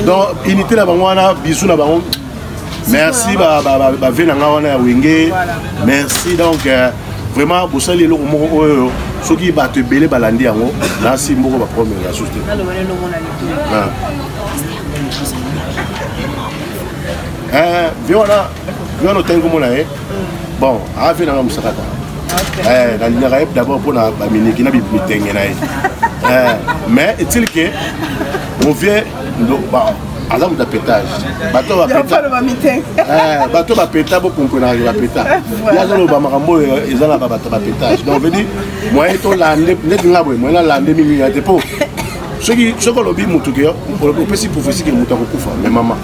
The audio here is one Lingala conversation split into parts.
donc unité na bango wana bisu na bango merci bave na ngai wana ya wenge merci donc euh, vraiment bosali eloko moko oyo soki bato ebele balandi yango nasi moko baprome ya susu te ah. eh, ve wana wana otangi komona ye bon avi nanga mosakata eh, nalingaka ye d'abord mpo na baminiki na bitenge na ye eh, mais est-il que mon vieux aza moto ya petage bato bato bapeta eh, bokomponaka bapeta ye azoloba makambo oyo eza na babato bapetage donc vedi moyen tolande ndeti nga boye moyen nalande mingi ya te mpo soki soki olobi motu ke opesi profesi ke motu akokufa me mama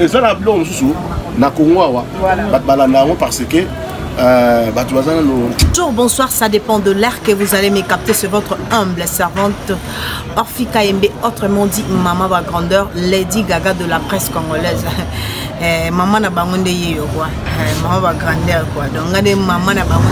eza na biloko mosusu na kongo awa bato balanda yango parce que Euh, bah, Bonjour, bonsoir, ça dépend de l'air que vous allez me capter. C'est votre humble servante Orphi KMB, autrement dit Maman va grandeur, Lady Gaga de la presse congolaise. Eh, maman na bango nde ye yo quoi eh, maman va grandeur quoi donc nga nde maman na bango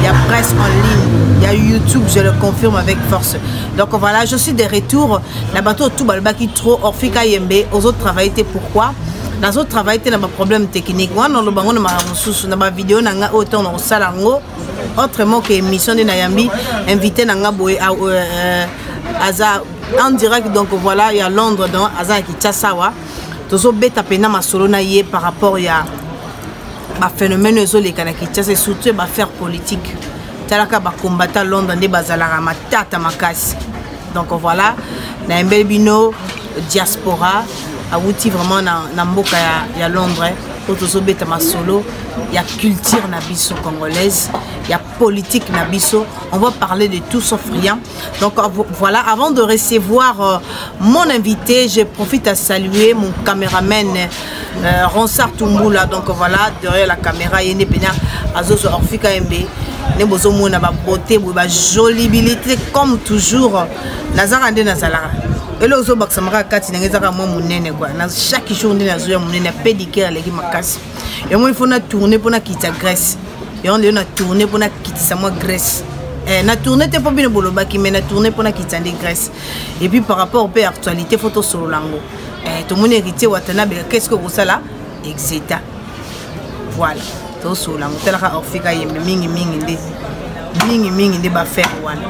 ya presse en ligne ya youtube je le confirme avec force donc voilà je suis de retour na bato oyo tu balobaki trop orfika yembe ozo travaille te pourquoi nazo travaille te na baproblème technique wana oloba yango na makambo mosusu na bavideo na ngai oyo ntango na kosala yango autrement ke émission nde nayambi invité na ngai boye ah, euh, euh, aza en direct donc voilà ya londres donc aza na kinshasa awa tozobeta mpenza masolo na ye par rapport ya baphénomène oyo ezoleka na kinshasa surtout ya bafaire politique talaka bacombattant londres nde bazalaka matata makasi donc voilà nayembeli bino diaspora awuti vraiment na, na mboka ya, ya londres eh. oyo tozobeta masolo ya culture na biso congolaise ya politique na biso on va parler de tout sauf rien donc euh, voilà avant de recevoir euh, mon invité je profite à saluer mon caméraman euh, ronsar tumbula donc voilà derrière la caméra ye nde mpena azozwa orfika yembe nde bozomona babote boye bajolibilité comme toujours nazaka nde nazalaka eloko ozobakisama kaka kati ndenge ezaka mwa monene kua na chaque jour nde nazoya monene apedicare aleki makasi yango ifo na tourne mpo nakitisa grèce yango lelo na tourne mpo nakitisa mwa grèce Eh, na tourne te mpo bino bolobaki mai na tourne mpo nakitisa nde grèce epuis par rapport mpe actualité fo tosolola yango eh, tomoni héritier watanabeka qu'est ce que okosala exeta voilà tosolola yango talaka orfika yembe mingimingi nde mingimingi nde bafere wana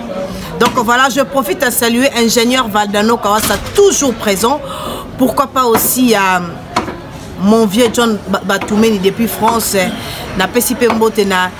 donc voilà je profite à saluer ingénieur valdano kawasa toujours présent pourquoi pas aussi à euh, mon vieux john batumeni depuis france napesi mpe mbote na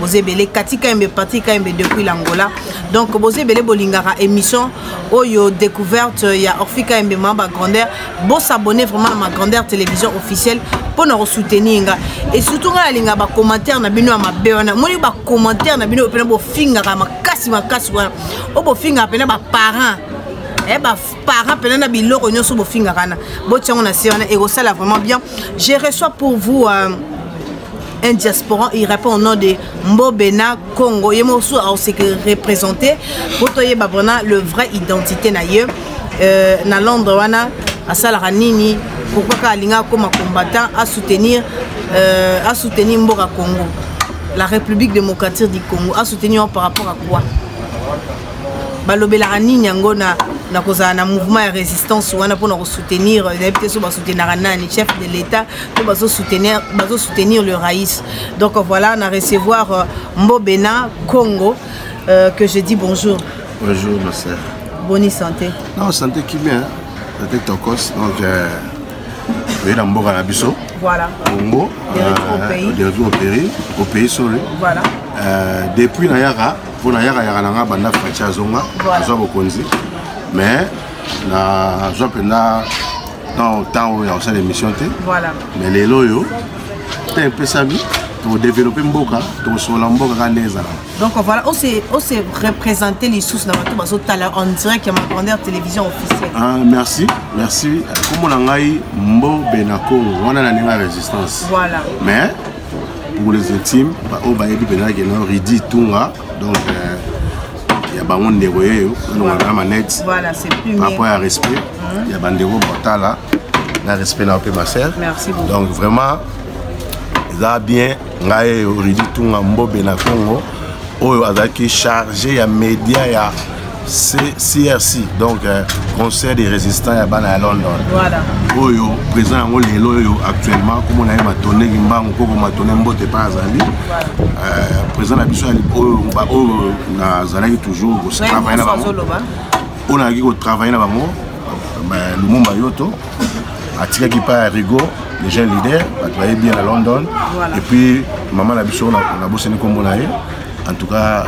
boza ebele kati kayembe patri kayembe depuis l'angola donc boza ebele bolingaka émission oyo découverte ya orphi kayembe ma ba grandeur bosabonne vraiment na ma grandeur télévision officielle mpo na kosoutenir nga et surtout ngai nalingaka bacommentaire na bino ya mabe wana moni bacommentaire na bino mpena bofingaka makasi makasi wana oyo bofingaka mpena baparent eh, parent pena na biloko nyoso bofinga kana botia ngo na se wana ekosala vraiment bien je reçois pour vous euh, un diasporan il répond au nom de mbobena congo ye mosusu aoseke représente po toyeba mpona le vrai identité na ye euh, na londres wana asalaka nini pourkui kaka alinga akoma combattant asoutenir euh, asoutenir mboka congo la république démocratique du congo asoutenir par rapport à quoi balobelaka nini yango na na kozala na mouvement ya résistance wana mpona kosoutenir nayebi te so basoutenaka nani chef de l'état to bazosoutenir le raïs donc voilà na recevoir euh, mbobena congo euh, que je dis bonjour bonjour ma sœur boni santé non santé kimia santé tokos donc euh, toye na mboka na biso voilà. congo euh, au pays au pays sorry voilà. euh, depuis nayaka mpo nayakayaka na ngai banda faci azonga azwa bokonzi mais nazwa mpenza ntango oyo ya kosala émission te mais lelo oyo te epesami tokodeveloppe mboka tokosolola mboka kaka ndenge ezalaka donc voilà ose représente lisusu na bato bazotala en direct ya magrandeur télévision officielle ah, merci merci komona ngai mbobe na congo wana na ndenge ya résistance voilà mais pour les intimes baoyo bayebi mpenza ke na ridi tunga donc euh, ya bango ndeko yeyo nalongana na manete rapport ya respect mhm. ya bandeko botala na respect na yo mpe ma sœur donc vraiment eza bien ngai oridi tunga mbobe na congo oyo azalaki charge ya média ya crc donc euh, conseil des résistants ya bana ya london voilà. oyo président yango lelo oyo actuellement komona ye matone kimbangu koko matone mbote epai azali euh, président na biso oyo nazalaki toujours kotravaille na bango oyo nayaki kotravaille na bango euh, lumumba yoto atikaki mpa ya rigo les jeunes leaders bato baye bien na london voilà. et puis mama na biso nabosani nkombo na ye en tout cas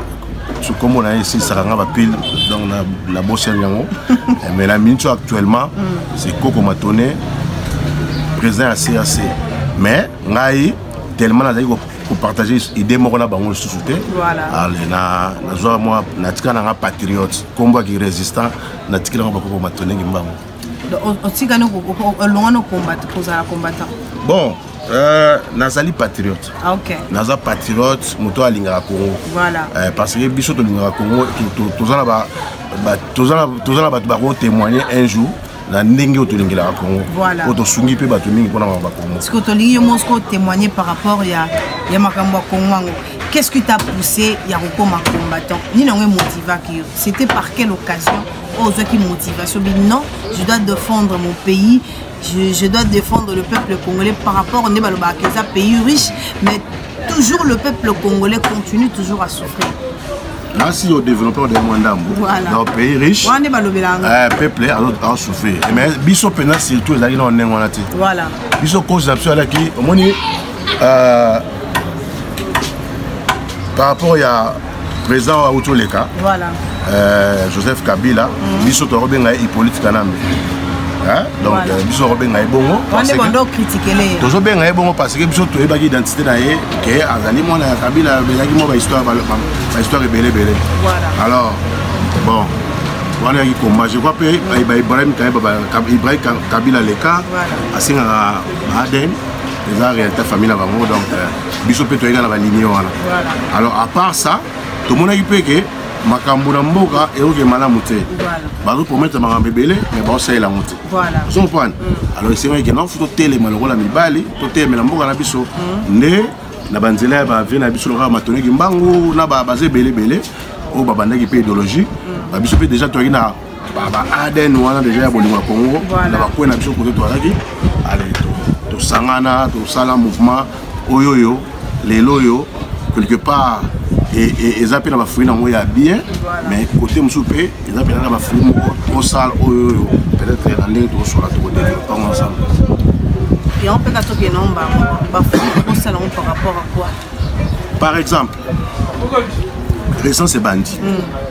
so nkombo na ye esilisaka nga bapile donc na bosani yango eh, mais na minute oyo actuellement mm. c'est koko matone président ya crc mais ngai tellement nazali kopartage idée moko na bango lisusu te nazwa mwa natika na nga patriote nkombo yaki résistant natikela ngo bakoko matone ngimbango otikani olongani okombata kozala combattant bon Euh, nazali patriote ah, okay. naza patriote moto alingaka congo voilà. euh, parce que biso tolingaka congo toza na ba, ba, na bato bakotémoigne un jour na ndenge oyo tolingelaka congo oyo tosungi mpe bato mingi mpona makambo ya congo siko tolingi yo moko kotémoigne par rapport ya, ya makambo ya congo yango qu'est ce qui t'a poussé ya kokoma combattant nini yango emotivaki yo c'était par quelle occasion oyo ozwaki motivation bi non je dois défendre mon pays je, je dois défendre le peuple congolais par rapport nde balobaka eza pays riche mais toujours le peuple congolais continue toujours à souffrir nasi yo développeur de mwa ndambo donc pays riche wana nde balobelanga eh, peuple asouffrir eh, mais biso mpenza surtout ezalaki na ndenge wana te biso cause na biso ezalaki omoni euh, par rapport ya président oyo auti oleka euh, joseph kabila mm. biso tokobenga ye hippolyte kanambe donc euh, biso tokobenga ye bongo tozobenga ye bongo parce que biso toyebaki identité na ye ke azali mwana ya kabila abelaki mwa bahistoire ebele ebele alors bon wana yaki komba je crois mpe ibrahim ibrahim kabila leka asengaka ba adn eza réalité famille na bango donc euh, biso mpe toyeka na balinie wana alors à part ça tomonaki mpe ke makambo na mboka eyoke malamu te bazopromettre makambo ebele me baosalela yango te ozo comprendre mm. alors esengo ekenda ofu totelema lokola mibali totelemela mboka na biso mm. nde na banzela ya bavie na biso lokola matoneki mbangu na baza ebele ebele oyo babandaki mpe idéologie mm. biso mpe déjà toyaki na ba adn wana deja ya bolingo ya congo na bakwe na biso kote toalaki ale tosangana tosala mouvement oyo oyo lelo oyo quelque part eza mpe na bafruit nango ya bien mais kote mosusu mpe eza mpenza na bafruit moko tosala oyo oyo peut-être na ndenge tokosola tokodevelope yango ensemble yango mpe katoki enao mbango bafruit tosala yango par rapport à quoi par exemple récence ebandi mm.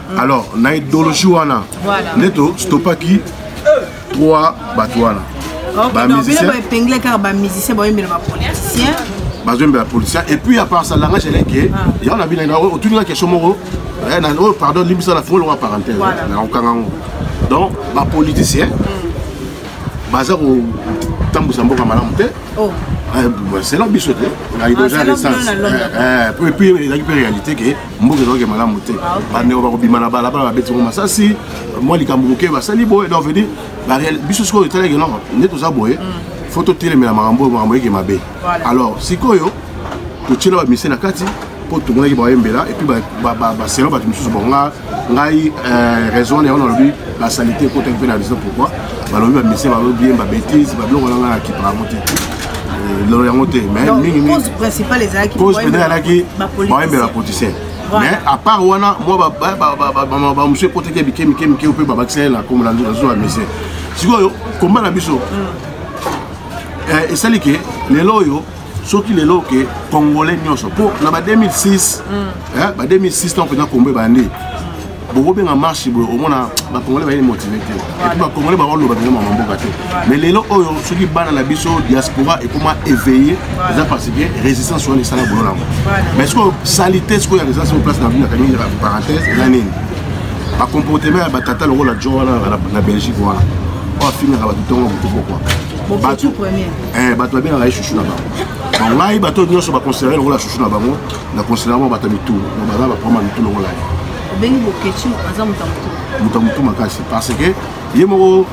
alors na idéologie wana nde tostopaki trois bato wana bamusicienbaepengla kaka bamusicien baoyembela bapoliticien bazoyembela politicien et puis apart ça langage eleke ah. yango na bino otuni na question moko eh, oyo oh, pardon limbisa na fongolonga parenthèse nakokanga yango donc bapoliticien hmm. baza kotambwisa mboka malamu te oh. eh, selon biso te na idéologie ya naissance eh, puis ezalaki mpe réalité ke mboka ezalaki malamu te ah, bandeko bakobima na balabala babeti ngo masasi mwa likambo moke basali boye donc vedi biso sikoyo etalaki noko nde toza boye mm. fo totelemela makambo oyo makambo eke mabe alors sikoyo totyela bamise na kati mpo tomonaki bayembela epuis baselo bato mosusu bon nga ngai euh, raison wana yango nalobi basalite ekotaki mpe na raison pourquoi balobi bamise balobi yemba bétise babiloko na ngai na kipa yango te euh, lelo yango te mais mingi mingi principale ezalaki cause peut-être alaki baoyembela ba politicien mais à part wana mwa bamosu ekotaki mike mike mike mpe babakisa ye na kombo na zuwa mise sikoyo komba na biso mm. eh, esali ke lelo oyo soki lelo ke congolais nyonso mpo na ba 2006 mm. eh, ba 2006 ntango mpenza kombo ebandi bokobenga marche boye omona bacongolais bayeli motive te epuis bacongolais bakoloba mpenza mama mboka te mais lelo oyo soki bana na biso diaspora ekoma éveille eza parce que résistance wana esala bolo nango mais sikoyo salite sikoyo ya résistance oyo place na bino akangi parenthèse eza nini bacomportement ya batata lokola jo wana na belgique wana oyo afingaka bato ntongo motu pokwa bato babengaka ye chuchu na bango ngai bato nyonso baconsidere lokola chuchu na bango na considera mwa bato ya mitu na baza baprama mitu longola ye obengi bokeci aza moto ya motu moto ya motu makasi parce que ye moko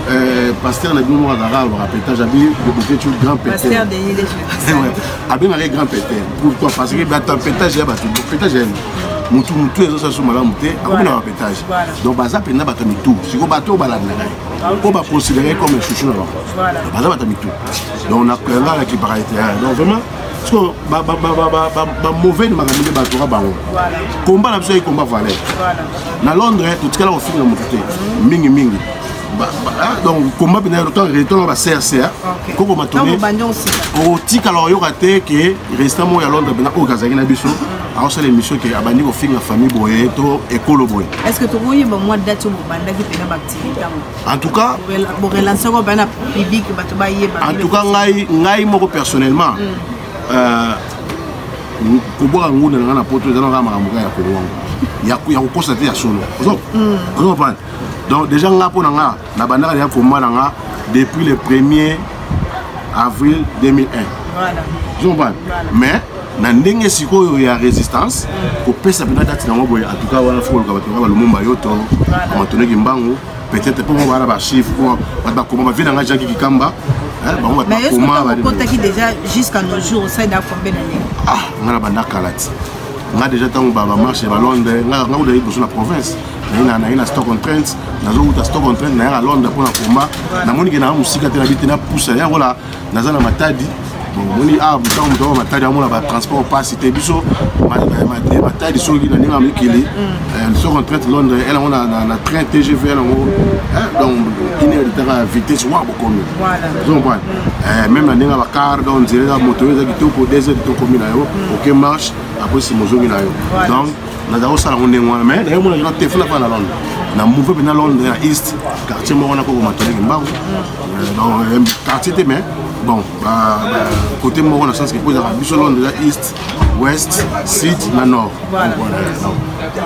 euh, pasteur na bino moko azalaka alobaka petage abi bokeci grand peter abengaka ye grand peter pourquoi parce que bato ya petage ya bato petage ya motu motu ezosala so malamu te akomi na bapetage donc baza mpenza bato ya mitu sikoyo bato oyo balandaka ye mpo baconsidere ye comme chouchou na bango baza bato ya mitu donc nakanga na kiparalite donc vraiment sikoyo bamauvais ni makambo nde batoka bango komba na biso yaki komba valeur na londres totikala kofinga motu te mhm. mingimingi ah, donc komba mpena retona bacerca koko matone okotikala oyoka te ke restant moko ya londres mpena oyo kazalaki na biso mhm. akosala émission ke abandi kofinga famille boye to ekolo boye est ce que tokoyeba mwa date oyo bobandaki mpena baactivité yango en tout cas en tout cas ngai ngai moko personnellement mm. euh, kobwaka ngunda na ngai na poto eza na kaka makambo kaka ya kolwango ya kokosa te ya solo mm. ozokompane donc déjà nga mpo na nga na bandaka ya komba na nga depuis le premier avril 2001 voilà. zomba voilà. mais na ndenge sikoyo ya résistance mm. kopesa mpenza kati nango boye en tout cas wana fo koluka bato nga balumumba yo to matoneki mbangu peut-être mpo bana bachiffre mpo bato bakoma bavie na ngai jaki kikamba bango bato bakomakotaki déjà jusqu'à nos jours osaida combien d'année ah ngai na banda kala ti ngai déjà ntango bamarche ya balondre ngai kuta liboso na province naina naye na stock on trent nazowuta stock on trent nayaka londres mpo na koma namoni ke naa mosika te nabi te napusa ye yangola naza na matadi omoni awa ntango moto aa matadi amona batransport mpasi te biso matadi soki na ndenge ya mikili mm. soki entraite londres ele yango na train tgv ele yango donc ine litaka vitesse wa bokomi ozomprane mm. meme na ndenge ya bacar donc nzela eza moto oyo eza kitoko des heures tokomi na yo mm. oke marche apres sima ozongi na yo donc nazala kosala yango ndenge wana mai nayo mona te funa fana na londre na mouve mpe na londre na east quartier moko wana kokoma toleke mbangu euh, euh, quartier te mais bon côté moko na sens kepo ezalaka biso londre eza east ouest sud na nord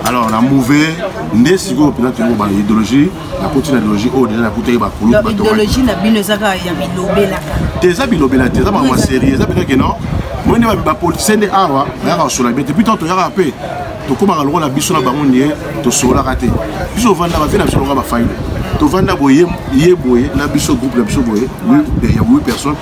alors na mouve nde sikoyo mpenza toyoko ba idéologie nakuti na idéologie oyo deja nakutaki bakuluidéologie na bino eza kaka ya bilobelaka te eza bilobela te eza makambo serie eza mpenza keno moi nde bapolitisien nde awa bayaka kosola bie te puis ntango toyaka mpe tokomaka lokola biso na bango ndie tosololaka te biso ovanda bavie na biso lokola bafaile tovanda boye ye boye na biso groupe na biso boye ya 8 personnes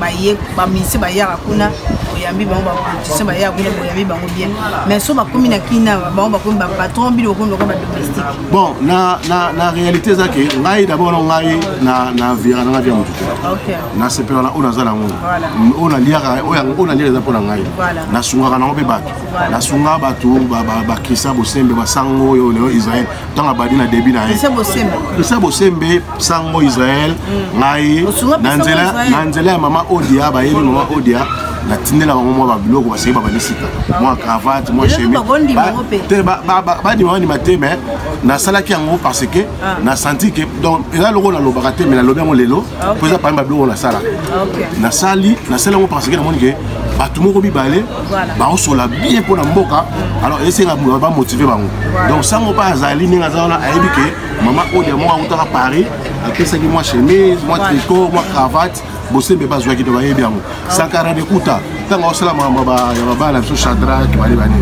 baye bamise bayaka kuna boyambi bango bapoliticien bayaka kuna boyambi bango bien mais so bakomi na kina bango bakomi bapatron bino bakomi lokola badomestique bon na, na, na réalité eza ke ngai d'abord no ngai na, na vira nanga via motu te nasepela na oyo naza nango oyo naliaka oyo naliaka eza mpo na ngai nasungaka nango mpe bato nasungaka bato bakisa bosembe basango oyo leo israel ntango abandi na debi na ye christian bosembe sango israel mm. ngai na nzela ya mama odia bayebi mama odia natindela bango mwa babiloko baseki babandi sika mwa cravate mwa chemite badima bandima te mais nasalaki yango parce que ah. nasanti ke donc eza loko nalobaka te mais nalobi yango lelo ah, mpo eza pami babiloko nasala ah, nasali nasali yango parce que namoni ke bato moko mibale baosola bien mpo na mboka alors esenga bamotive bango donc sango mpe azali ndenge aza wana ayebi ke mama odia moko akutaka paris apesaki mwa chemise mwa tricot mwa cravate bosembe bazwaki to bayebi yango sankara dekuta ntango aosala makambo ya babala biso chadrak bale bane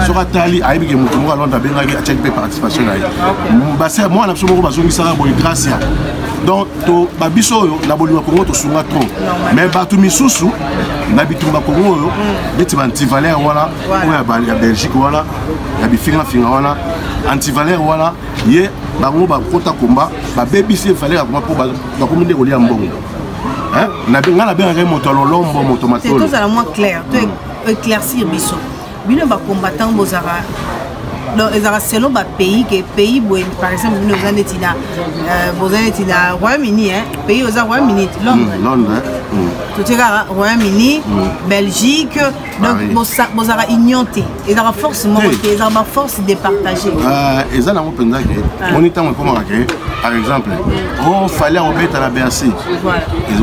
soki atali ayebi ke moto moko alonda abengaki atiaki mpe participation na ye mwana biso moko bazongisaka boye gracia donc babiso oyo na bolingo kongo tosunga trop mais bato misusu na bitumba kongo oyo neti baantivalere wana oyo ya belgique wana ya bifingafinga wana antivalere wana ye bango bakota komba babebisi ye valere ya komba mpo bakomi nde kolia mbongo ngai nabengaka ye moto ya lolombo moto matolo tozala mwa clair to éclaircir biso bino ba combattant bozaka donc ezalaka selon bapays ke pays boye par exemple bino oza neti na euh, boza neti na royaume-uni pays oza royaume-uni londre hmm, hmm. totie kaka royaume-uni hmm. belgique donc bozalaka union te ezalaka force moko te ezalaka baforce départagé euh, eza nango mpenza ke ah. moni ntango ekomaka ke par exemple o oh, fali akobeta na bercy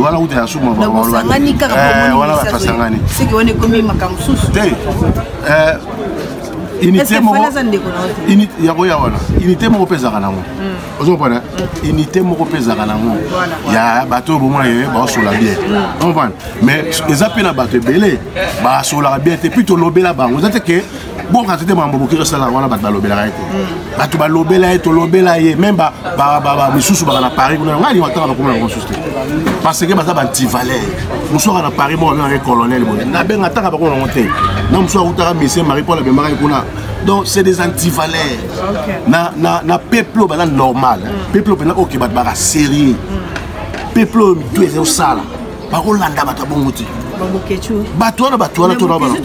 wana kuta ya suma wana bakasangani te eh, unité moko yango ya wana unité moko mpe ezalaka nango hmm. ozo comprendre hmm. unité moko mpe ezalaka nango ya bato oyo bomona ye baosola bien hmm. comprendre mais eza mpe na bato ebele basolaka bien te puis tolobela bango eza te ke bokati te mambo boki tosala wana bato balobelaka ye te bato balobela ye tolobela ye meme misusu baka na paris kuna ngai lingo atanga nakoma yango mosusu te parce que baza bantivaleur mosusu aka na paris moko abengaka ye colonel boye nabenga atanga bakoma yango te na mosusu akutaka misie marie paul abemaka ye kuna donc c'est des antivaleurs na, na, na peuple oyo baza normal peuple oyo mpenza oke bato baka sérieux peuple oyo mitu ezali osala bakolanda bato ya bongo te bato wana bato wana tonaparce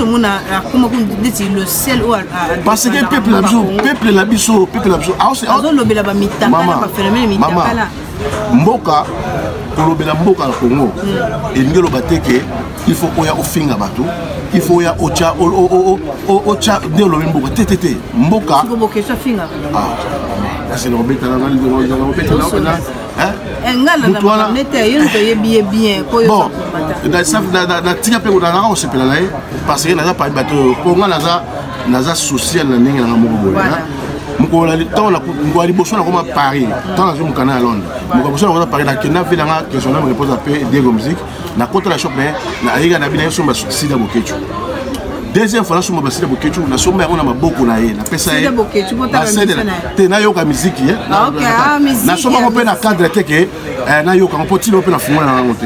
que peuple na biso peuple na biso peuple na biso azolobela bamitakala baphénomène mitakala mboka kolobela mboka na congo hmm. elingi eloba te ke il faut oya ofinga bato il faut oya otya otya nde olobi mboka te te te mboka ah, kasi nakobetana Eh, natika mpe nazalaka kosepela na ye parce que naza pami bato oyo mpo ngai naza naza social na ndenge nanga moko boye mokolo ya liboso nakoma paris ntango nazwi mokanda ya londres mokolo liboso nakoma paris nakenda mpe nanga questionnaire me repose ape diego musique na kota na shop mais na ayega na bina yosomba sida bokechu deuxième fois nasomba basida bokechu nasomba yango na maboko na ye napesa ye basedela te nayoka miziki ye ah, ah, nasomba yango mpe na cadre te ke eh, nayoka yango mpo ntina mpe nafungola na yango te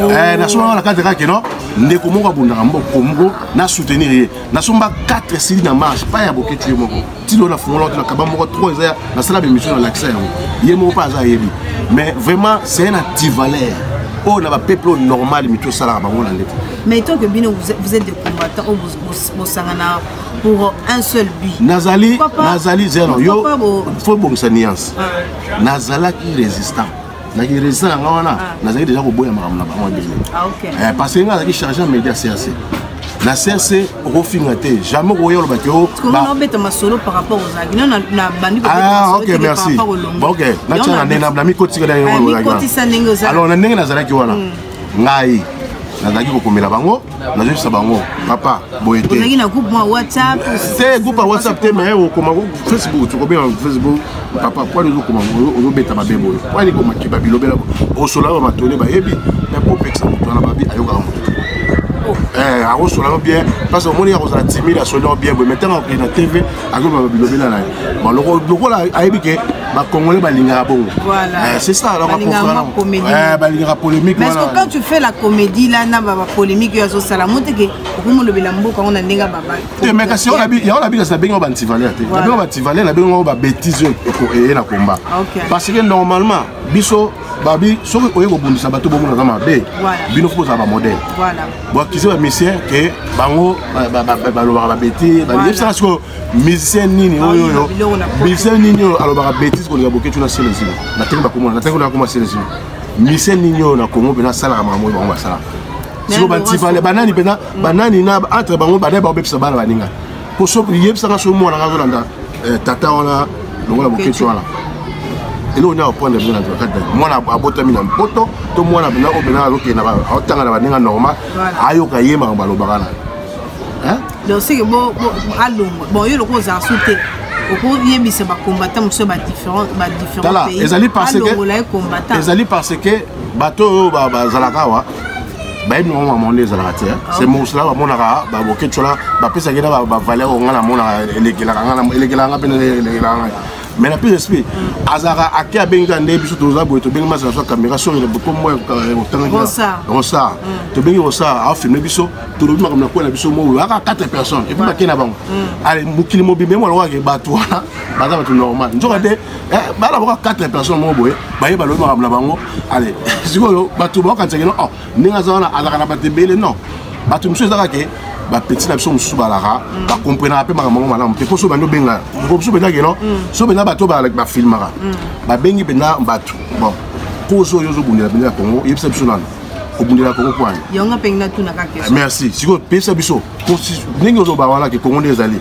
oh. eh, nasomba yango na cadre kaka keno ndeko moko abundaka mboko moko na soutenir ye nasomba 4 sili na marche pa ya bokechu ye moko tilo nafungola kutu na kaba moko trop eza nasala bemission nalakisa yango ye moko mpe aza ayebi mais vraiment c'est un antivaleur oyo oh, na bapeuple oyo normal mitu osalaka bango na ndete mais tant que bino vous êtes des combattants oyo oh, bosangana pour un seul but nazali nazali zero yo fo bongisa nuance ah. nazalaki résistant na ki resident yanga wana ah. nazalaki deja koboya makambo na bango ebele ah, eh, parce que nga azalaki charge ya média crc na crc okofinga te jamais okoya oloba te oh, obeta masolo par rapport ozalaki no nabandi ah, ok merci ok natyana nde namikotika eh, alors na ndenge nazalaki wana hmm. ngai nazalaki kokomela bango nazoyebisa bango papa boye te ozalaki na groupe mwa whatsapp te groupe ya whatsapp te mais okoma facebook tokobenga facebook papa pwani ozokoma ozobeta mabe boye pwani komakiba bilobela osola ba matole bayebi mais popekisa moto wana babi ayokaka moto oh. eh, akosolano bien parce omoni akozala timide asolino bien boye mais ntango akokei na tv akoloba bilobela na ye lokola ayebi ke bacongolais balingaka bongo eh, c'est ça eh, balingaka polémique parce que quand tu fais la comédie là na bapolémique oyo azosala mo teke okomolobela mboka yango na ndenge babate eh, mais kasi yango nabikasi na bengi bantivaleur te na bengi bantivaleur na bengi yango babétise oyo eye na combat parce que normalement biso babi soki oye kobundisa bato bomona aza mabe bino fo kozala bamodele boakize bamusicien ke bango balobaka babeti yebisaka sikoyo musicien nini ah, oyo oyo musicien nini oyo alobaka betise kolinga boketuna selezilo natenge bakomona natenge nakoma selezilo musicien nini oyo na kongo mpe nasalaka makambo oyo bango basalaka siko banani mpenza banani na entre bango banani baobebisa bana baninga poso yebisanga soki mwana nga azolanda eh, tata wana longola boketi wana eloko nini akoprendre bino na kati mwana abotami na mpoto to mwana bina oyo bina azokenda aotanga na baninga normal ayoka ye makambo alobaka na donc seke alongwa bon yo lokola ozala su te okoyebisa bacombattant mosusu badifferent badifferent pays alongola ye combattant ezali parce que bato oyo bazalaka awa bayebi nango makambo nde ezalaka te ah. se mosala bamonaka baboketshola bapesaki na bavaleur oyo ngai namonaka elekelaka ngai elekelaka ngai mpe elekelaka ngai mais na plus esprit azalaka ake abengi kaka nde biso toza boye tobengi masi na so kamera soki kombo rosar tobengi rosar afilme biso tolobi makambo na kwela biso moyo aka 4 personnes epuis bake na bango ale mokili mobimba emolokake bato wana baza bato normal nzoka te Eh, bana boka 4 personne moko boye baye balobi makambo na bango ale sikoyo bato baokanisaki no oh, ndenge aza wana azalaka na bato ebele non bato mosusu ezaka ke bapeti na biso mosusu balaka mm. bakomprenaka mpe makambo yango malamu te mpo so bandi obenga mosusu mpenza keno mm. so mpenza bato bafilmaka mm. babengi mpenza bato bon kozo oyo ozobundela mpenza ya kongo oyebisa biso nano kobundela kongo kwani merci sikoyo pesa biso ndenge ozoloba wana ke kongo nde ezali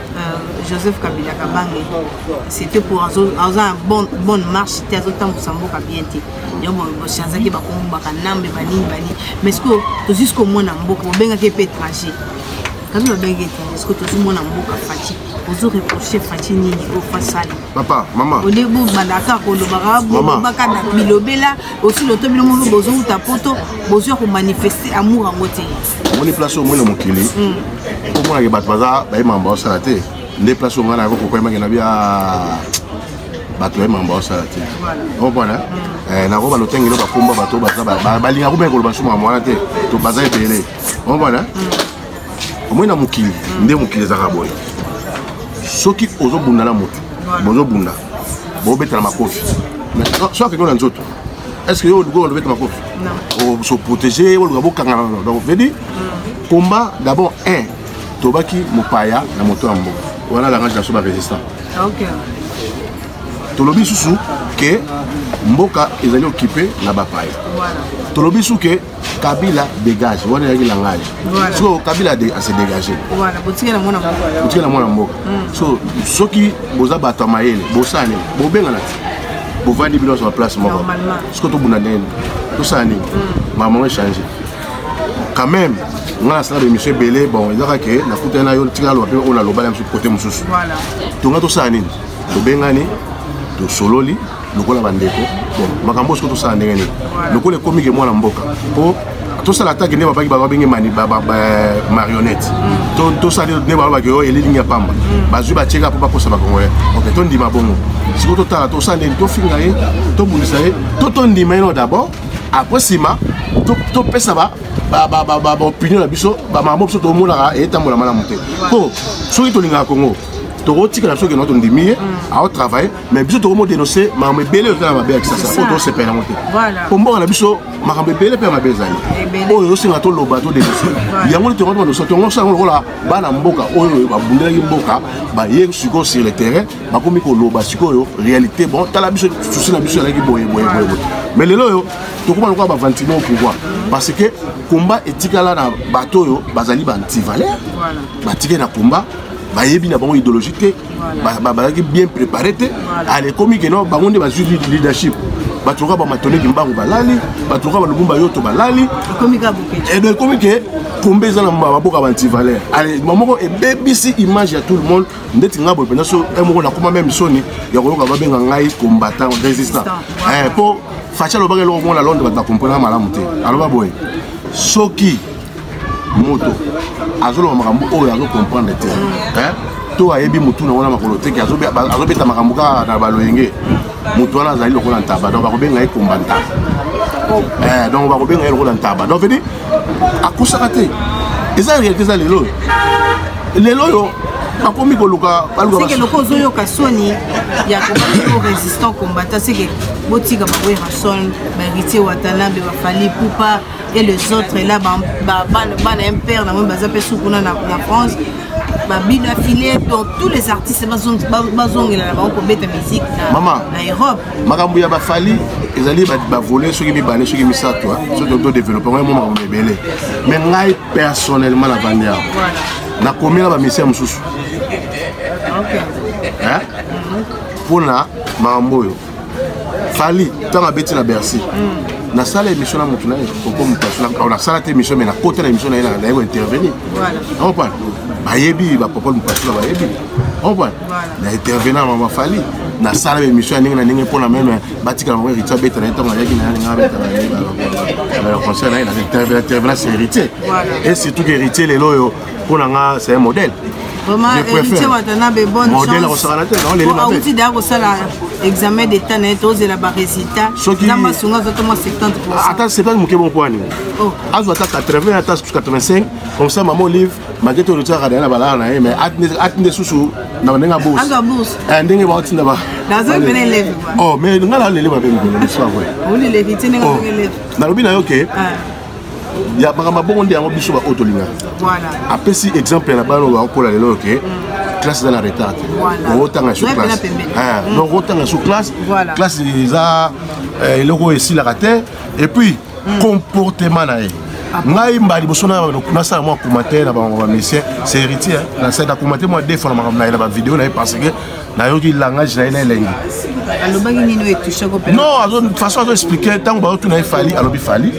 Euh, joseph kabila kabange c'était pour aza na bonne marche te azotambusa mboka bien te yango bochanzaki bakongo bakanambe banini banini mais sikoyo tozwi sikoyo mwana mboka bobengaki mpe étranger kabi babengaki étranger sikoyo tozwi mwana mboka faci ozo reproche faci nini oyo fasali papa mama olie bobandaka kolobaka bolobaka na bilobela osi loto bino moko bozowuta poto bozwi ya komanifeste amour yango te omoni place omoni na mokili hmm. omonake bato baza bayemaka baosala te nde place ongai nayako kokoyemaki na bia bato bayemaka baosala te omona hmm. eh, nako balotenge no bakomba bato baza balingaka komeka koloba suma mwana te to baza ebele omona hmm. omoi na mokili nde mokili ezalaka boye soki ozobunda na motu bozobunda bobetana makofi so akende na nzoto est ce que yo olingi oyo lobeta makofi se protéger oluka bokangana donc veut dire combat d'abord un tobaki mopaya na moto ya mboka wana langage na so barésistant tolobi lisusu ke mboka ezali okipe na bapaya tolobi lisusu ke kabila dégage wana ezalaki langage sikoyo kabila ase dégage botika na mwana mboka hmm. so soki boza bato ya mayele bosala nini bobengana ti bovandi bino nyonso na place moko sikoyo tobunda ndenge tosala nini hmm. mamango echange quand même nga nasala bemission ebele bon ezaka ke nakutani na yo tika aloba mpe oyo naloba na biso kote mosusu tonga tosala nini tobengani tosololi lokola bandeko bon makambo oyo soki tosala ndenge nini lokola ekomi ke mwana mboka mpo tosala atake nde babaki babenge marionnette mm. tosali nde balobaki oyo oh, elilingi ya pamba mm. bazwi batieka mpo bakosa bakongolais ok tondima bongo sikoyo totala tosala ndeni tofinga ye tobundisa ye to tondima ye no d'abord après nsima topesa ba baopinion na biso bamakambo biso tomonaka etambola malamu te mpo soki tolingaka kongo tokotika na biso keno tondimi ye mm. aotravaille mais biso tokomo denonce makambo ebele oza na mabe ya kisasa oyo tosepela yango te mpo mboka na biso makambo ebele mpe ya mabe ezali oyo ezosenga toloba todenonce yango nde tongo tomandosa tongo osala yango lokola bana mboka oyo babundelaki mboka baye sikoyo sur le terrain bakomi koloba sikoyo réalité bon tala biso susi na biso ezalaki boye boye boye boye mais lelo oyo tokoma lokola bavantime au pouvoir parce que combat etikala na bato oyo bazali bantivaleur batikali na combat bayebi na bango idéologie te bazalaki bien préparé te ale ekomi ke no bango nde bazwi leadership bato lokola bamatole kimbangu balali bato lokola balubumba yoto balali edo ekomi ke kombe eza na maboka bantivaleur mamoko ebebisi image ya tout le monde ndeti ngai boye mpenza so moko nakoma meme soni ya koyoka babenga ngai combattant résistant mpo eh, faci alobaki eloko moko na londres bato bakomponaka malamu te aloba boye soki moto azoloba makambo oyo azokomprendre te to ayebi motu na wana makolo teke azobeta makambo kaka na baloyenge motu wana azali lokola ntaba donc bakobenga ye komba ntaba oh. eh, donc bakobenga ye lokola ntaba donc vedi akosaka te eza réalité eza lelo oyo lelo oyo bakomi koluka balukaseke loko ozoyoka soni ya kobaki o résistant combattant seke botika bawerrason baheritier watanabe bafali pupa et les autres là bana ya mpere na moi baza mpe su kuna na france babino afile donc tous les artistes bazongela na bango kobeta musique na europe makambo ya bafali ezali bavole soki mibale soki misato soki todeveloppe yango yamo makambo ebele mais ngai personnellement na vandi yango nakomela bamisia mosusu mpona makambo oyo fali ntango abeti na bercy mm. nasala émission na motu na ye koko motu asulaka nasala te émission mai nakota na émission na ye naye kointervenir ompana bayebi bapopole mopasula bayebi ompana na intervenant mama fali nasala émission ya ndenge na ndenge mpo na meme batikala mama héritier abeta na ye ntango ayaki na ye ndenge abeta na concert na ye na intervenant héritier et surtout héritier lelo oyo mpo na nga c'est un modèle modèle akosakana te auti deya kosala examen d'état na ye tozela barésultat nzambe asunga azwa to mwa 70 ata 70 moke moko wani oh. azwa ata 80 ata 85 comme ça mama olive malgré to lotiaka deya na balala na ye mais ati nde susu na ndenge abourse eh, ndenge baotinda ba oh, mais nga nalele mabe mikolo nalobi na yo ke ya makambo bongo nde yango biso baoyo tolingaka apesi exemple ya na bana oyo bakokola lelo oke mm. classe eza na retard te okotanga sur classe ah, mm. donc okotanga sur classe classe eza eh, eloko oyo esilaka te et puis mm. comportement na ye ah ngai mba liboso nasala mwa commentaire na bango bamesien c'est héritier nasala na commentaire mwa defo na makambo na ye na bavideo na ye parce que nayoki langage na ye na elengi alobaki nini oyo etouche ko non façon azo explike ntango baotuna ye fali alobi fali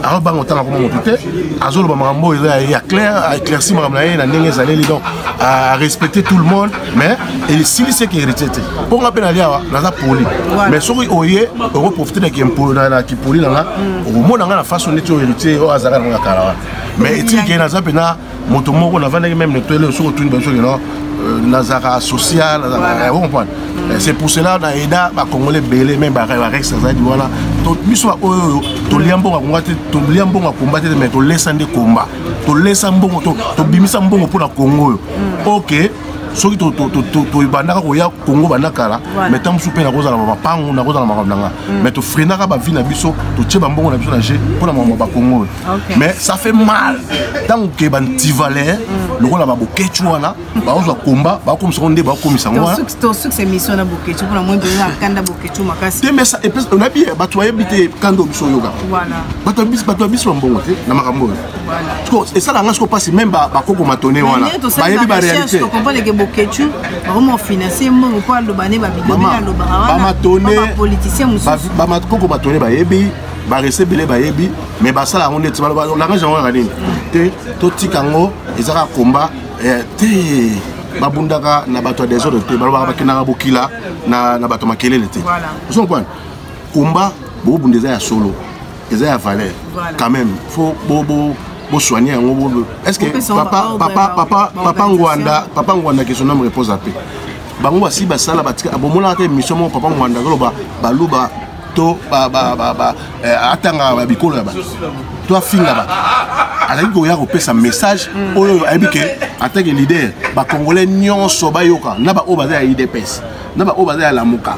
azobanga otanga koma motu te azoloba makambo oyo eza ya clair aéclairci makambo na ye na ndenge ezaleli donc arespecte tout le monde mais esilisi eke héritier te mpo nga mpe nali awa naza poli mais soki oye okoprofite na kipoli na nga okomona nga na façon neti oyo héritier oyo azalaka na nga kala wana mais etiki naza mpenza moto moko navandaki meme netoele soki otuni biso kino euh, nazalaka social eh, comprendre eh, c'est pour cela na aida bacongolais ebele meme barex azalaki wana biso baoyo oyo tolia mbongo akonga te tolia mbongo akomba te mais tolesa nde komba tolesa mbongo tobimisa mbongo mpo na kongo oyo mm. ok soki tobandaka koya kongo banda kala mai ntango mosusu mpe nakozala ma mapango nakozala makambo na nga mm. mai tofrenaka bavi na biso totie bambongo na biso na je mpo na makambo ya bakongo oyo mais ça fait mal ntango ke bantivalere mm. lokola babokeci wana bakozwa komba bakomisa ngo nde bakomisa ngo wanaoyebi bato bayebi te kanda biso oyoka bato ya biso bambongo te na makambo oyo esala nga siko mpasi meme bakoko matone wana bayebi baréalité bakoko matone bayebi barese ebele bayebi mais basala yango neti baloba langage yango yaka nini te totika yango eza kaka komba eh, te babundaka na bato ya desordre te balobaka bakendaka bokila na bato makelele te ozo comprendre komba bobunda eza ya solo eza ya valeur quand même faut bo bo bosoigne yango bo est ce que papa papa papa papa ngwanda papa ngwanda que son homme repose à paix bango basi basala batika bomonaka te émission moko papa ngwanda koloba baluba to eh, atangaka babikolo ya bato to afinga bato azalaki koya kopesa message mm. oyo ayebi ke atake leader bacongolais nyonso bayoka na baoyo baza ya idps na baoyo baza ya lamuka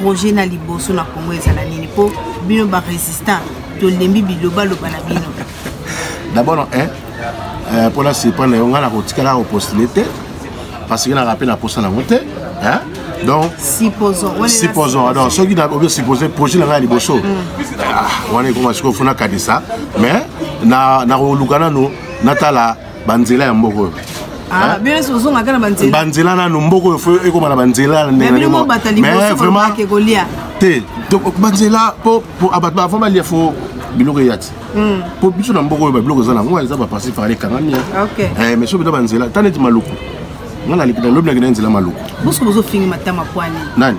projet na liboso na congo ezala nini mpo bino barésistant tolembi bilobaloba na bino d'abord eh, eh, mpo nasipa na yo ngai nakotikala kopostule te parce que naka mpe na posa nango te donc supposons donc soki obi suppose projet na ngai ya liboso mm. ah, wana ekoma sikoyo fo nakanisa mais nakoluka nano natala banzela ya mboka oyo Ah, banzela nano mboko oyo ekoma na banzela te banzela po bato bavant balia fo biloko eya ti hmm. po biso na mboko oyo babiloko eza nango eza baparci par ekangami eh, mais soki bita banzela ata neti maluku nga naleki na lobi nakenda nzela maluku nani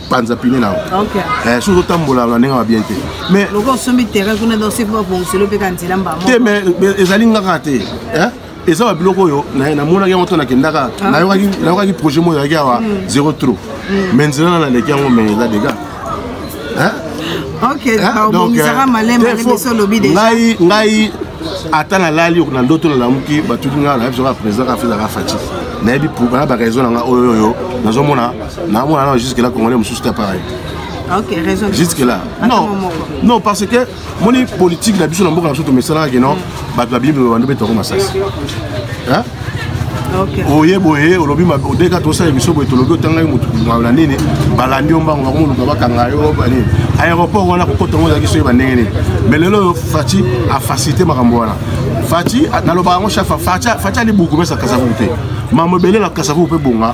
panza pine na yango eh, soki ozotambola na ndenge ya bien te mais te mais ezali nga kaka te eh? eza ba biloko oyo namonaki yango to nakendaka ah. nayokaki projet moko ezalaki awa hmm. zero trop hmm. mais nzela na naleki yango mais eza dega ngai ngai ata nalali na ndoto nalamuki batuki ngai nayebi soka président kafezaka faci nayebi na baraison na ngai oyo oyo nazomona Na mwana na jusque là congolais mususu ta pareil. Ok, raison. Jusque là. Non. Non parce que moni politique na biso na mboka na biso tomesala ke non mm. bato babimi ba ndobe toko masasi. Hein? oye boye olobi odeka tosala emission boye tolobi otangaki motu na nini balandi yo mbango bakomoluka bakanga yo banini aéroport wana kokota yango ezalaki soyeba ndenge nini mais lelo oyo faci afacilité makambo wana faci nalobaka yango chafa faci ali buku mesa kasavuku te mambo ebele na kasavuku mpe bonga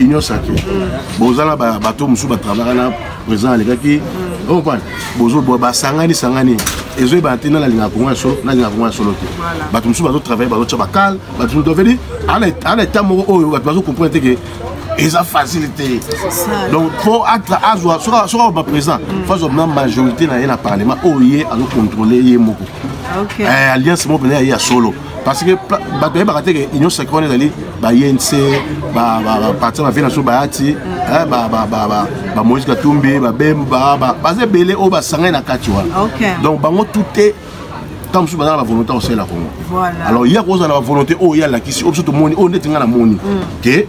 union sacré boza na bato mosusu batravaka na président alekaki ompane bozoboa basangani sangani ezoyebana te na nalingaka kongo ya solo nalingaka kongo ya solo te bato mosusu bazotravaille bazotya bakale bato mosusu dovedi ana eta moko oyo bato bazocomprendre te ke eza facile te donc fo azwa soki akoba présent fo azwa na majorité na ye na parlement oyo ye azocontrôle ye moko ah, eh, alliance moko mpena ya ye ya solo parce que bato bayebaka te ke union sacré wana ezali bayense baparti na vie na biso bayati bamoïse katumbi babemba baza ebele oyo basangani na kati wana donc bango tute ntango mosusu baza na bavolonté ya kosala kongo alors ye akozala na bavolonté oyo ye alakisi oyo biso tomoni oyo ndeti ngai namoni ke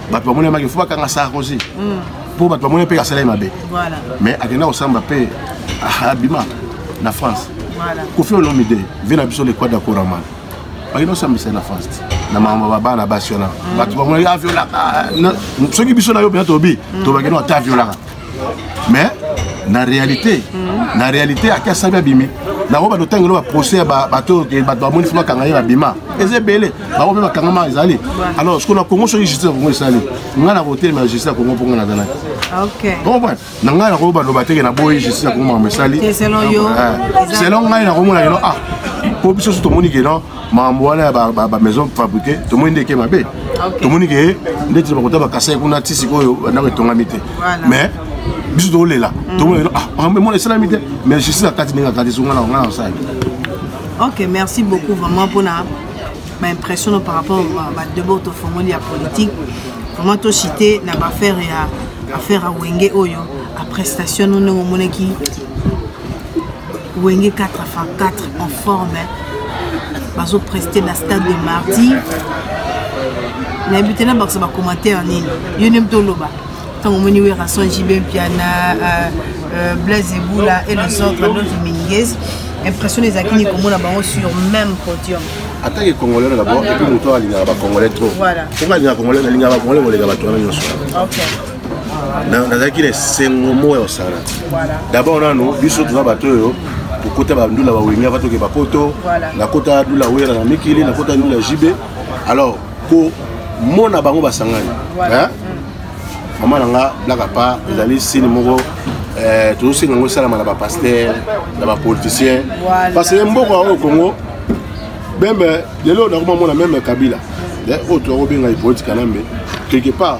bato bamoni yamaki fo bakanga sarkozy mpo bato bamoni mpe asala ye mabe mais akenda kosamba mpe abima na france kofi olomide vie na biso lekwada koramana bakenda kosambisa ye na france te na makambo babana basi wana bato bamoni aviolaka soki biso na yo mpenza tobi to bakenda ata aviolaka mais na réalité mm. na réalité ake asabi abimi bango bato ntango elo baprocès ya bato bamoni fo bakanga ye babima eza ebele bango mpe bakangama ezali alors siko na congo soki justice ya congo esali ngai na kotelema justice ya congo mpo ngai nazalaki comprendre na ngai nakoki baloba teke na boyi justice ya congo makambo esali selon ngai nakomona keno ah mpo biso so tomoni keno makambo wana ya bamaison fabriqué tomoni nde eke mabe tomoni ke ndeti na bakota bakasai kuna ti sikoyo ndako etongami te mais biso tokolela mm. tomoni lelo ah, makambo emona esalami te mais justice akati ndenge akati songa na ngai nasali ok merci beaucoup vraiment mpona baimpression par rapport badebord tofongoli ya politique vraiment tocite na baaffaire ya affaire ya wenge oyo aprestation no ndenge omonaki wenge 4 fa 4 en forme bazo preste na stade de mardi nayebi te nabakisa bacommentaire nini yo nde moto oloba ntango omoni werason jb mpiana euh, euh, blaise ebula et les autres d'autres mingues impression ezalaki nini komona bango sur même podium atake congolais d'abord epuis moto alingaka bacongolais trop po nga alingaka congolais nalingaka bacongolais koleka bato wana nyonso nazalaki na esengo moko ya kosala dabord nano biso toza bato oyo tokota bandula bawenge ava toke bapoto nakota dula wera na mikili nakota ndula jibe alors komona bango basangani mama na nga blaka pa ezali sini moko eh, tozosenga yango esalama na bapaster na bapoliticien parce que mboka oyo congo meme lelo nakoma mona meme kabila eh, oyo tokobenga ye politika nambe quelque part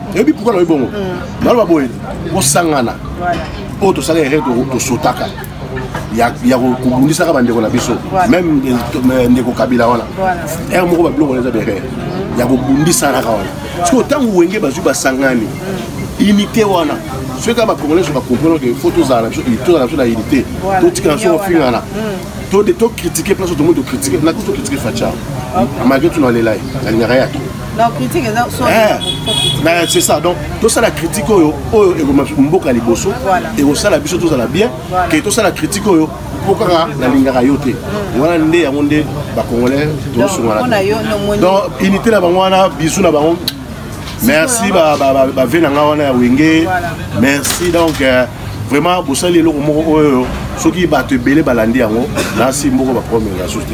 oyebi pourkui nalobi bongo mm. naloba boye kosangana oyo tosala erreur tosotaka ya kobundisaka bandeko na biso meme eh, ndeko kabila wana ere moko babiloko wana eza berere mm. ya kobundisanaka wana sikoyo ntango wenge bazwi basangani mm. unité wana soki kaka bacongolais so bacomprendre ke fo tozala na biso tozala na biso na unité totikana so ofingana tokritike place tomoni tokritike na kutu tokritike facha malgré tuna lela ye nalingaka ye ake Non, critique eza soit eh, mais c'est ça donc tosala critique oyo oyo ekoma mboka liboso ekosala biso tozala bien ke tosala critique oyo po kaka nalingaka yo te mm. wana nde yango nde bacongolais tozosungana donc unité na bango wana bisu na bango merci bave na nga wana ya wenge merci donc euh, vraiment bosali eloko moko oyo soki bato ebele balandi yango nasi mboko bapromela susu te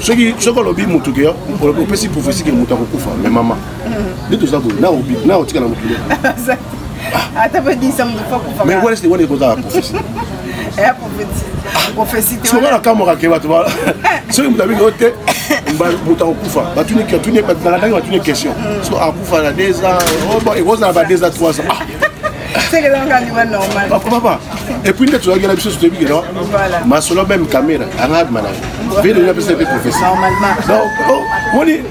soki soki olobi motu ke opesi prophesie ke motu akokufa me mama nde toza boye na otikala motu ata badisa motu akokufa me wana sete wana ekozala prophesie soki nakamwaka ke bato soki moto abiki ote moto akokufa nalandaki batuni question so akufa na deux ans ekozala ba deux ans trois ans papa epuis nde tozalaki na biso sotoyebikela masolo meme camera anga abima na ye vede nini apesa mpe profesi oh, moni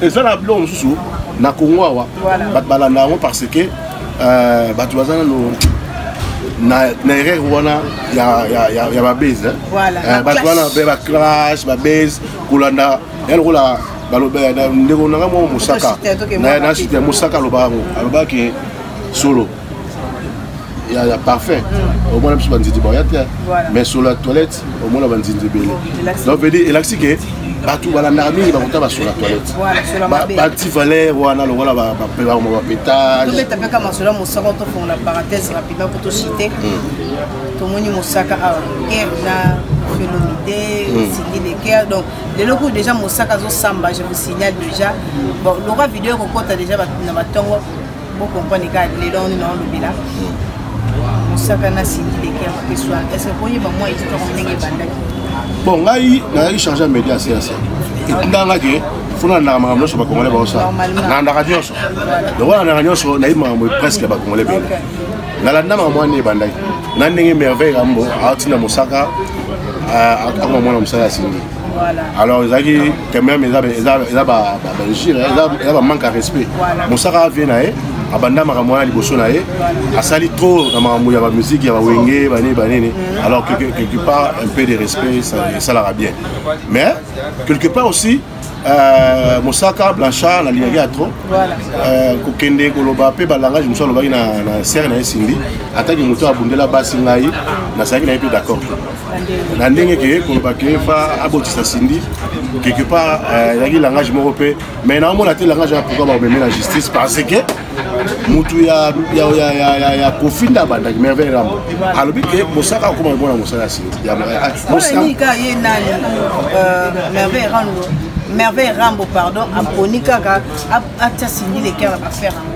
eza na biloko mosusu na congo awa bato balanda yango parce que euh, bato baza nano na, na erreur wana ya, ya, ya, ya babase eh? voilà, eh, bato wana mpe baclash babase kolanda ya lokola ndeko nanga mwa mosaka na site ya mosaka alobaka yango alobaki solo ya, ya parfum mm. omona biso banzinzi baya te mais solo ya toilette omona banzinzi ebele donc veut dire elakisi ke bato balandaka mingi bakuta basolo ya toilette bati valeur wana lokola bakoma bapetage masolo mosaka tofongola parenthèse rapidement po tosite mm. tomoni mosaka awa ah, guerre na felomide mm. sindi de guerre donc lelo kuyo déjà mosaka azosamba je vous signale déjà bon lokola video ekokota déjà na batongo Bo comprendre ka lelo on na lobela. Musaka na Cindy de Kerr que soit. Est-ce que boyeba moi histoire ndenge bandaki? Bon ngai nazali chargé ya média CAC. Etindanga ke fona nandaka makambo nyonso bakongole baosala nandaka nyonso lokola nandaka nyonso nayebi makambo presque bakongole bene nalanda makambo wana ebandaki na ndenge merveille kambo aotinda mosaka akoma mwana mosala ya sindi alors ezalaki quand même eza bainjure eza bamanque ya respect mosaka avie na ye abanda makambo wana liboso na ye asali trop na makambo ya bamiziki ya bawenge banini banini alors quelque part un peu de respect esalaka bien mais quelque part aussi Euh, mosaka blanchard nalingaki ya trop euh, kokende koloba mpe balangage mosusu alobaki na sere na ye sindi ataki moto abundela basi ngai nasalaki na ye mpe d'accord na ndenge ke koloba ke fa abotisa sindi quelque part euh, ezalaki langage moko mpe mais naomona te langage ya pourkui bakomeme na justice parce que motu ya kofinda abandaki merveille rambo alobi ke mosaka akoma komona mosala ya sindi merveille rambo pardon aponi kaka atia sindi leker na bafere yango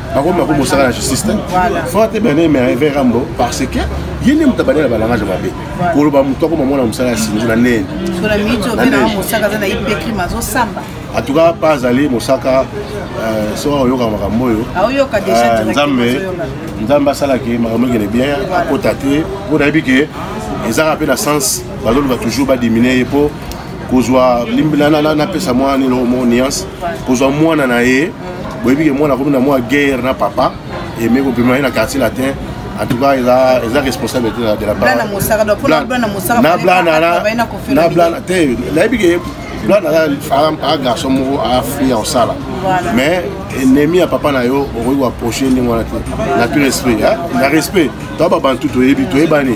bango bako mosala na justice te forte bene merve rambo parce que ye nde moto abandela balangage mabe koloba moto akoma mwana mosala ya sinzo na nene en tout cas pas azali mosaka euh, soki akoyoka makambo oyo euh, nzambe nzambe asalaki makambo ekende bien akota te mpo nayebi ke ezaka mpe na sens bazoloba toujours badimine ye mpo kozwa napesa mwana nilo mo nuance kozwa mwana na ye boyebi ke mwana akomi na mwa guerre na papa eme kopema ye na quartier latin en tout cas eza eza responsable te de la blana mosaka donc pona blana mosaka na blana na na blana te nayebi ke blana aza a garçon moko a fille en sala mais ennemi ya papa na yo okoki ko approcher ndenge wana te na tout respect na respect to ba bantu toyebi toyebani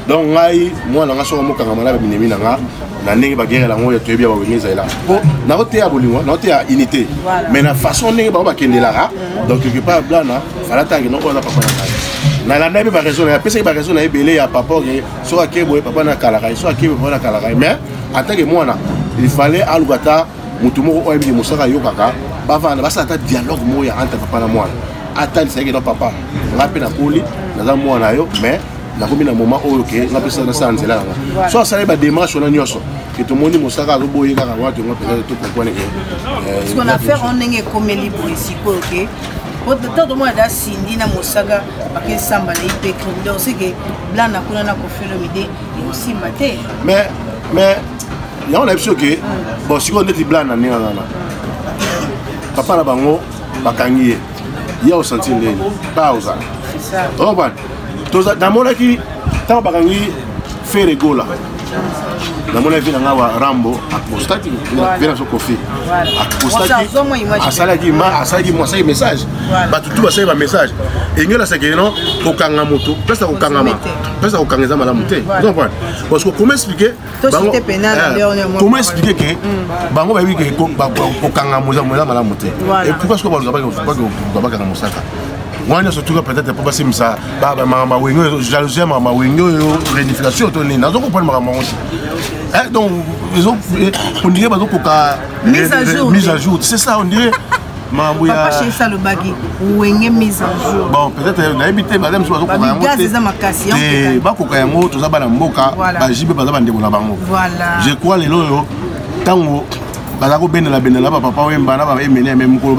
donc ngai mwana nga soko mokangama na babinemi na nga na ndenge bagerela yango oyo toyebi ya bawenge ezalela mpo naoteya bolingo naoteya unité mais na façon ndenge bango bakendelaka donc quelque part blana falata akende oyo aza papa na ngai nalanda mpe baraison na ye apesaki baraison na ye ebele ya papa oke soki ake boye papa nakalaka ye soki ake boye papa nakalaka ye mais atake mwana il fallait aluka ata motu moko oyo ayebiki mosaka ayokaka bavanda basala ata dialogue moko ya entre papa na mwana atalisa yeke no papa ngai mpe nakoli naza mwana yo mais nakomi na moment oyo ke nga mpe nasala nzela yanga so asali bademarche wana nyonso ke tomoni mosaka azoboye kaka wana tongo mpenza tokompwane ke euh, na affaire wana ndenge ekomeli boye sikoyo ke ntango tomona da sindi na mosaka bakesamba na ipeklo donc seke blana kuna na kofelomide ekosimba te mais mais yango na biso ke hmm. bon sikoyo ndeti blana ndenge wana papa na bango bakangi ye ye osanti ndenge pa ozala namonaki ntango bakangi fere gola namona vi na ngai wa rambo apostaki vi na so kofi apostakiasalaki ma asalaki mo asalaki message bato tu basali bamessage engela sekeli no kokanga moto place ya kokangama place ya kokanga eza malamu te parce que okoma explike comment expliquer ke mm. bango bayebi ke kokanga moza malamu te et pourquoi soki balobabakanga mosaka wana nyonso tuka peut-être mpo basimisa makambo mawenge oyo jalousie ya makambo mawenge oyo réunification to nini nazo comprendre makambo yango te donc ondire bazokoka mise à jour c'est ça ondire papa chefs alobaki wenge mise en jour bon peut-être euh, nayebi te baza mosusu bazokoka yango te eza makasi eh, bakoka yango toza bana mboka bajibe baza bandeko na bango je crois lelo oyo ntango baza kobendela bendela bapapa wemba na baemene yame mokolo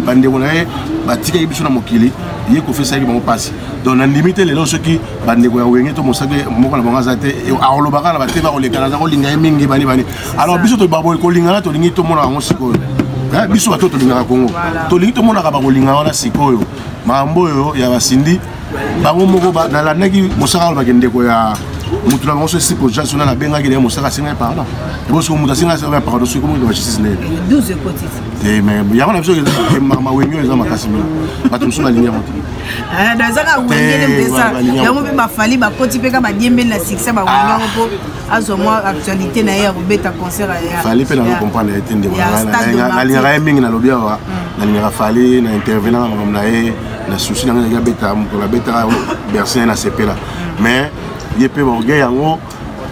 bandeko na ye batikaki biso na mokili ye kofesaki bango mpasi donc nandimi te lelo soki bandeko ya wenge to mosaki moko na bango aza te akolobaka na batema kolekana aza kolinga ye mingi bani bani alors biso tobaboli kolingana tolingi tomona yango sikoyo eh, biso bato tolingaka kongo tolingi tomonaka bakolingana wana sikoyo makambo oyo ya basindi bango moko nalandaki mosaka olobaki ndeko ya motu na bango so esi projet sona nabengaki naye mosaka asengaki pardon ebo soki motu asengaki asengaki pardon soki komoki na justice naye te mais yango na biso mawengi oyo eza makasi mino bato mosusu balingi yango te eh, ezaka wengele mpesa yango mpe bafali bakoti mpe ka badiembeli na sikisa bawengi yango mpo azwa mwa actualité na ye ya kobeta concert fali mpe nazo comprendre ye te ndeko nalingaka ye mingi nalobi awa mm. nalingaka fali na intervenant na makambo na ye na souci na ngai naki abeta mokolo abetaka bersin na sepela mm. mais ye mpe baorgueil yango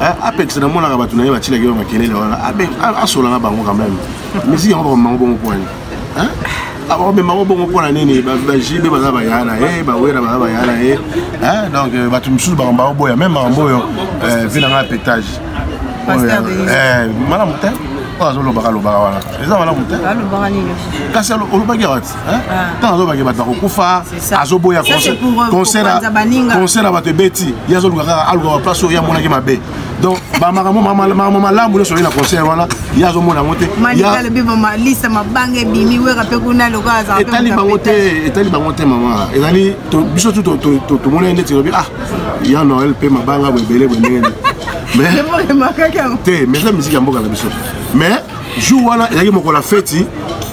eh, apekisa namonaka bato na ye batilaki yo makelele wana asolanga bango quand même misiki yango bakomango bongo pwani omema ngo bongo mpona nini bajibe baza baya na ye bawera baza baya na ye donc euh, bato mosusu bango baoboya meme makambo oyo euh, vi na ngai petage euh, malamu te oyo azolobaka lobaka wana eza malamu te kasi olobaki awa ti ntango ah. azobaki bato bakokufa azoboya concert ya bato ebeti ye azoluka kaka alukaka place oyo ye amonaki mabe donc bamakambo malamu nyonso oye na concert wana ye azomona yango te etali bango te etali bango te mama ezali biso tu tomonani ndeti lobi ah ya noel mpe mabanga boebele boye ndenge te mais eza miziki ya mboka na biso mais jour wana ezalaki mokolo ya feti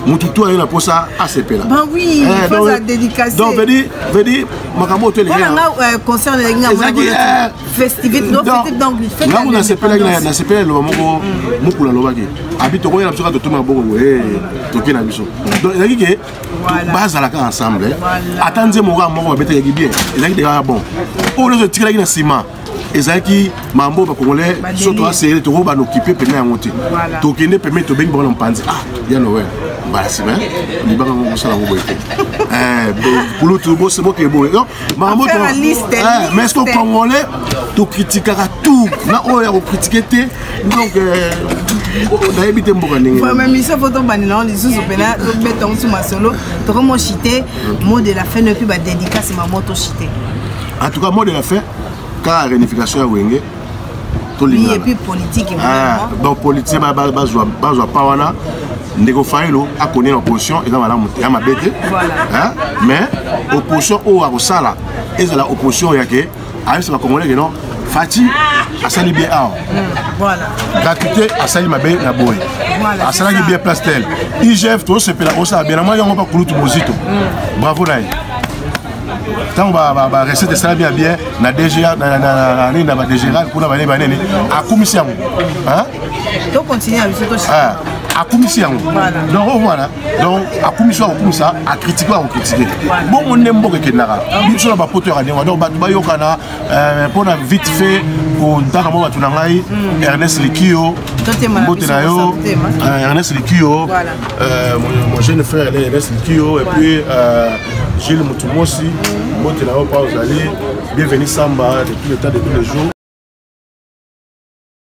motu tu aye na mposa asepela ah, eh, donc vedi makambo oyo toelekea ntango nasepelaki nasepela eloba moko mokulu alobaki abi tokoyela biso kaka totumi maboko boye toke na biso donc ezalaki ke bazalaka ensemble ata nzembo kaka moko babetekaki bien ezalaki te kaka bon oyo nyonso etikelaki na nsima ezalaki mambo bakongolais so toa serre toko banokipe pene yango te tokende peme tobengi bango na mpanzi ah ya noel mbala nsima libanga yango kosala yango boye te eh, kulutu bokeboye makambo eh, mais ce que congolais tokritikaka tout na oyo ya kokritike te donc euh, nayebi te mboka ndengeémission fo tobandela yango lisusu mpena tobeta yango su masolo tokomo chite mot de la fin noki badédicace mamo tochite en tout cas mot de la fin kaka réunification ya wenge bapoliticien ah, bazwa pa wana ndeko fayelo akoni na opposition eza malamu te ya mabe te mais opposition oyo akosala ezala opposition yake ayebisa bacongolais ke non fati asali bien awa hmm, gratuité asali mabe na boye asalaki bien place tel igf tosepela osala bien na mwa yango bakulutu bozito hmm. bravo na ye ntango barecette esalami ya bien na dga nini na badegral kuna banini banini akumisi yango akumisi yango donc omwana oh, donc akumisi akokumisa akritike akokritike bongo nde mboka ekendaka biso na bapoto yaka ndenge donc bato bayokana euh, mpo na vite fait kontaka mwa bato na ngai hmm. ernest likio mbote na yo euh, ernest likio euh, mon jeune frère ernest likio et puis Gilles Mutumosi, mbote na yo pa ozali, bienvenue samba de tout le temps de tous les jours.